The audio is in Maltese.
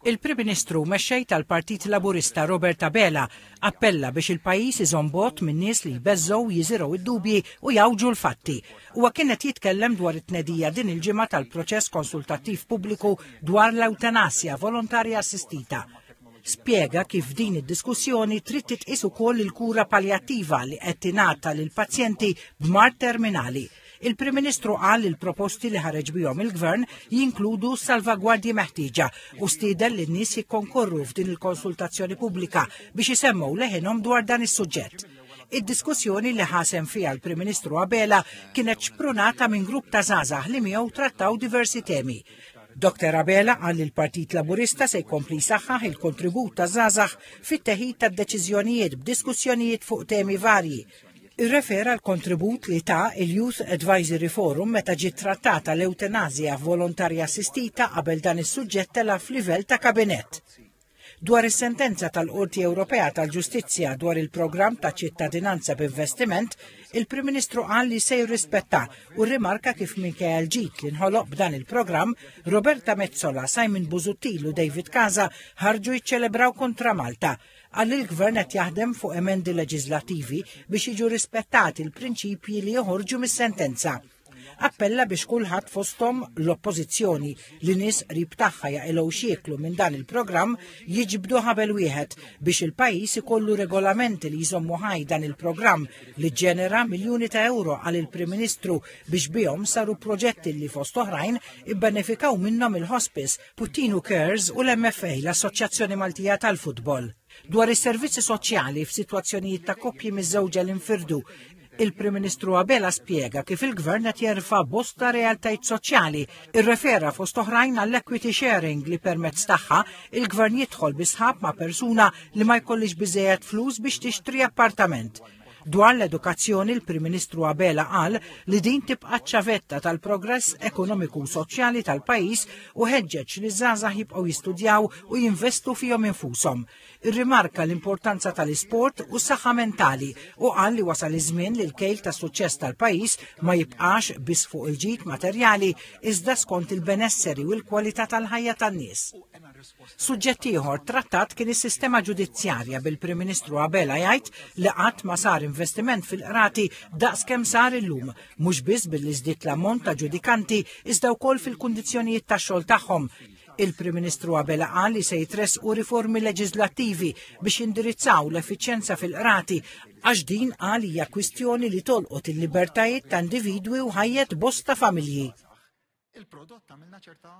Il-Prim Ministru u Mexxej tal-Partit Laburista Robert Abela appella biex il-pajjiż iżomm bogħod minn nies li jbeżżgħu, jiżirgħu d-dubji u jgħawġu l-fatti. Huwa kien qed jitkellem dwar it-tnedija din il-ġimgħa tal-proċess konsultattiv pubbliku dwar l-ewtanasja volontarja assistita. Spjega kif f'din id-diskussjoni trid titqies ukoll il-kura paljattiva li qed tingħata lill-pazjenti b'mard terminali. Il-Prim Ministru qal li l-proposti li ħareġ bihom il-Gvern jinkludu s-salvagwardji meħtieġa u stieden lin-nies jikkonkorru f'din il-konsultazzjoni pubblika biex isemmgħu leħinhom dwar dan is-suġġett. Id-diskussjoni li ħasem fiha l-Prim Ministru Abela kienet xprunata minn grupp ta' żgħażagħ li miegħu trattaw diversi temi. Dr. Abela qal li l-Partit Laburista se jkompli jsaħħaħ il-kontribut ta' żgħażagħ fit-teħid tad-deċiżjonijiet b'diskussjonijiet fuq temi varji Irrefera l-kontribut li ta' il-Youth Advisory Forum meta ġiet trattata l-eutanazja volontarja assistita qabel dan is-suġġett tela' f'livell ta' kabinett. Dwar is-sentenza tal-Qorti Ewropea tal-Ġustizzja dwar il-programm ta' ċittadinanza b'investiment, il-Prim Ministru qal li se jirrispetta u rrimarka kif minkejja l-ġid li nħoloq b'dan il-programm, Roberta Metsola, Simon Busuttil u David Casa ħarġu jiċċelebraw kontra Malta Qal li l-Gvern qed jaħdem fuq emendi leġiżlattivi biex jiġu rispettati l-prinċipji li joħorġu mis-sentenza. Appella biex kulħadd fosthom l-Oppożizzjoni li nies qrib tagħha jaqilgħu xieklu minn dan il-programm jiġbdu ħabel wieħed biex il-pajjiż ikollu regolamenti li jżommu ħaj dan il-programm li ġġenera miljuni ta' ewro għal il-Prim Ministru biex bihom saru proġetti li fost oħrajn ibbenefikaw minnhom il-hospice Puttinu Cares u l-MFA, l-Assoċjazzjoni Maltija tal-Futbol, dwar is-servizzi soċjali f'sitwazzjonijiet ta' koppji miżżewġa li nfirdu Il-Prim Ministru Abela spjega kif il-Gvern qed jerfa' bosta realtajt soċjali, irrefera fost oħrajn għall-equity sharing li permezz tagħha il-Gvern jidħol bi sħab ma' persuna li ma jkollhiex biżejjed flus biex tixtri appartament. Dwar l-edukazzjoni l-Prim Ministru Abela qal li din tibqa' ċavetta tal-progress ekonomiku u soċjali tal-pajjiż u ħeġġeġ li żgħażagħ jibqgħu jistudjaw u jinvestu fihom infushom. Irrimarka l-importanza tal-isport u s-saħħa mentali u qal li wasal iż-żmien li l-kejl ta' suċċess tal-pajjiż ma jibqax biss fuq il-ġid materjali iżda skont il-benesseri u l-kwalità tal-ħajja tan-nies. Suġġett ieħor trattat kien is-sistema ġudizzjarja bil-Prim Ministru Abela jgħid li qatt ma sar investiment fil-qrati daqs kemm sar illum, mhux biss billi żdied l-ammont ta' ġudikanti iżda wkoll fil-kundizzjonijiet tax-xogħol tagħhom. Il-Prim Ministru Abela qal li se jitressqu riformi leġiżlattivi biex jindirizzaw l-effiċjenza fil-qrati għax din qal hija kwistjoni li tolqot il-libertajiet ta' individwi u ħajjet bosta familji.